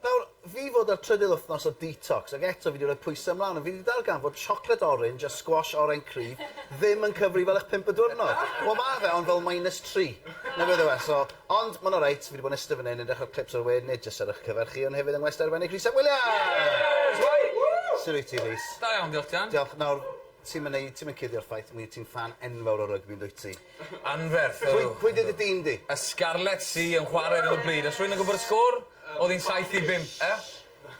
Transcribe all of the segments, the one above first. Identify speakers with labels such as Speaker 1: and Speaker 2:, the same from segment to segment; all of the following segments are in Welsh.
Speaker 1: Nawr, fi fod ar trydydd wthnos o detox ac eto fi 'di rhoi pwyse mlan ond fi 'di darganfod siocled orange a squash oren cryf ddim yn cyfri fel eich pump y dwrnod. Wel ma fe ond fel minus tri. Na beth yw e so ond ma'n alright fi 'di bod yn iste fan 'yn yn edrych ar clips o'r we nid jyst ar eich cyfer chi ond hefyd yng ngwesty arbennig Rhys ap Williams! Woo! Su' wyt ti Rhys? Da iawn diolch Jan. Diolch.
Speaker 2: Nawr ti'm
Speaker 1: yn neu- ti'm yn cuddio'r ffaith mi wyt ti'n ffan enfawr o rygbi yndwyt ti? Anferth ydw. Pwy
Speaker 2: pwy 'di dy dîm
Speaker 1: di? Y Scarlets sy
Speaker 2: yn chware ar 'yn o bryd. Os rwy'n yn gwybod y sgôr, o'dd 'i'n saith i bump. E?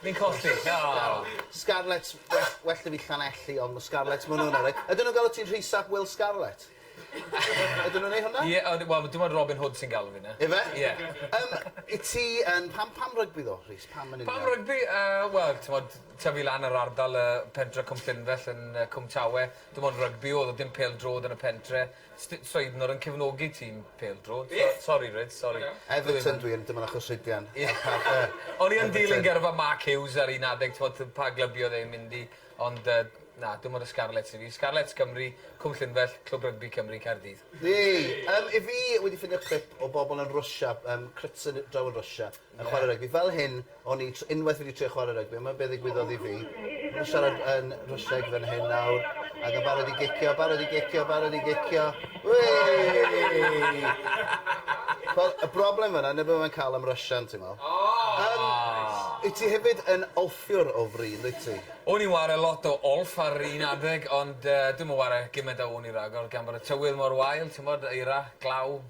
Speaker 2: Ni'n colli. O! Scarlets
Speaker 1: well well 'da fi Llanelli ond ma' Scarlets ma' wnna'n yrru. Ydyn nhw'n galw ti'n Rhys ap Wil Scarlet? Ydyn nhw'n neu' hwnna? Ie o d- wel dim ond Robin
Speaker 2: Hood sy'n galw fi 'ny. Yfe? Ie. Yym i ti
Speaker 1: yn pam pam rygbi ddo Rhys pam yn union? Pam rygbi yy
Speaker 2: wel t'mod tyfu lan yr ardal yy pentre Cwmllynfell yn yy Cwm Tawe Dim ond rygbi o'dd o dim pêl-drod yn y pentre. Sti- Sweidnor yn cefnogi tîm pêl-drod. Be? So- sori Rhys sori. Go on now. Everton dwi yn dim
Speaker 1: ond achos Rhydian. Ie. A pa- yy Everton.
Speaker 2: O'n i yn dilyn gyrfa Mark Hughes ar un adeg t'mod t- pa glyb i o'dd e'n mynd i ond yy na dim ond y Scarlets i fi. Scarlets Cymru, Cwm Llynfell, Clwb Rygbi Cymru, Caerdydd. Yey! Yym 'yf
Speaker 1: fi wedi ffindio clip o bobl yn Rwsia yym crytsen draw yn Rwsia Yn chwarae rygbi. Fel hyn o'n i tr- unwaith wedi trio chwarae rygbi, yma be ddigwyddodd i fi. Fi'n siarad yn Rwsieg fan hyn nawr, ac yn barod i gicio, barod i gicio, barod i gicio. Wei! Wel, y broblem fanna, neb yma'n cael am Russian, ti'n meddwl. Oh! Yym, wyt ti hefyd yn olffiwr o fri, yn dwyt ti? O'n i'n ware lot
Speaker 2: o olff ar un adeg, ond yy dwi'm yn ware gyment â wn i ragor, gan bod y tywydd mor wael, t'mod, eira, glaw,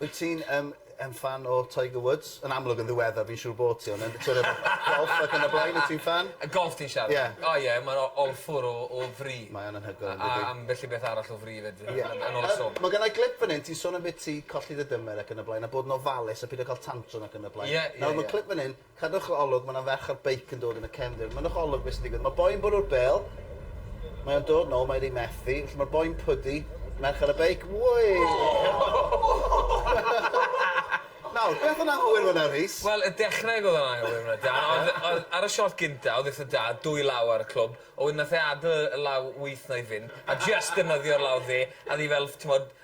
Speaker 2: Wyt ti'n yym
Speaker 1: yn ffan o Tiger Woods? Yn amlwg yn ddiweddar fi'n siŵr bo' ti on' yn sor' of golff ac yn y blaen wyt ti'n ffan? Y golff ti'n siarad? Ie.
Speaker 2: O ie ma'n o- awful o o fri. Mae o'n anhygoel on'd ydi? A
Speaker 1: ambell i beth arall
Speaker 2: o fri 'fyd yy yn yn ôl y sôn. Ma' gynna' glip fyn 'yn ti'n
Speaker 1: sôn am be' ti colli dy dymer ac yn y blaen a bod yn ofalus a pido ca'l tantrum ac yn y blaen. Ie ie ie. Nawr ma' clip fyn 'yn Cadwch o olwg, mae 'na ferch ar beic yn dod yn y cefndir. Mynnwch o olwg beth sy'n digwydd. Mae boi'n bwrw'r bêl. Mae o'n dod nôl, mae'n rhy methu. Felly mae'r boi'n pwdu. Merch ar y beic. Wei! Nawr, beth o'n anghywir fan'na, Rhys? Wel, y dechrau oedd
Speaker 2: o'n anghywir fan'na, Dan. Ond oedd... ar y siot gynta, oedd eitha da, dwy law ar y clwb. A wedyn nath e adl y law wyth na i fynd, a jyst defnyddio'r law dde, a o'dd 'i fel, t'mod,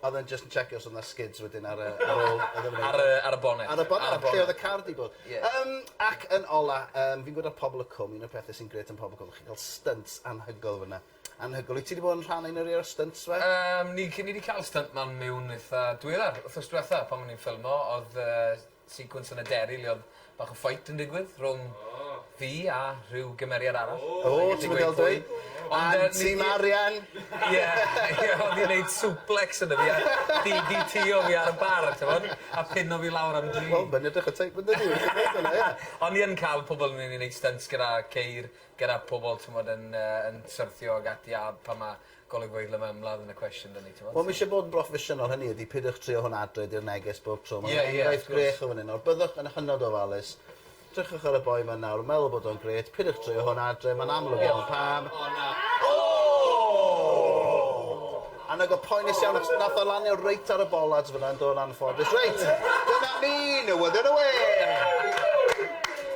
Speaker 1: Odd
Speaker 2: e'n jyst yn checio os
Speaker 1: odd 'na skids wedyn ar y ar ôl iddo fe neud e. Ar y ar y bonnet.
Speaker 2: Ar y bonnet. Ar y bonnet. Lle odd y car
Speaker 1: 'di bod. Ie. Yym ac yn ola yym fi'n gwed ar Pobol y Cwm un o'r pethe sy'n grêt am Pobol y Cwm chi'n ca'l stynt anhygoel fyn 'na. Anhygoel. Wyt ti 'di bod yn rhan o un o rei o'r stynt 'ma? Yym ni c- ni 'di ca'l
Speaker 2: stynt man miwn itha diweddar. Wthnos dwetha pan o'n i'n ffilmo odd yy Sequence yn y deri lle odd bach o fight yn digwydd rhwng fi a rhyw gymeriad arall. O! Ti'm yn ga'l dweud.
Speaker 1: Ond yy... Anti Marian! Ie ie odd 'i'n
Speaker 2: neud suplex yno fi a DDT o fi ar y bar a t'mod? A pino fi lawr am dri. Wel mae'n edrych y teip yndydi fi
Speaker 1: gallu gweud hwnna ie.
Speaker 2: O'n i yn ca'l pobol yn myn' i neud stynts gyda ceir gyda pobol t'mod yn yy yn syrthio ag ati a pan ma' golygfeydd le mae ymladd yn y cwestiwn 'da ni t'mod so. Wel ma' isie bod yn broffesiynol
Speaker 1: hynny ydi pidwch trio hwn adre di'r neges bob tro ma' fe'n enghraifft grech o
Speaker 2: fan 'yn
Speaker 1: nawr byddwch yn hynod ofalus drychwch ar y boi 'ma nawr yn meddwl bod o'n grêt pidwch trio hwn adre ma'n amlwg iawn pam O na! O! Annog o poenus iawn achos nath o lanio reit ar y bollards fan 'na yn do yn anffodus reit dyna ni newyddion y wê!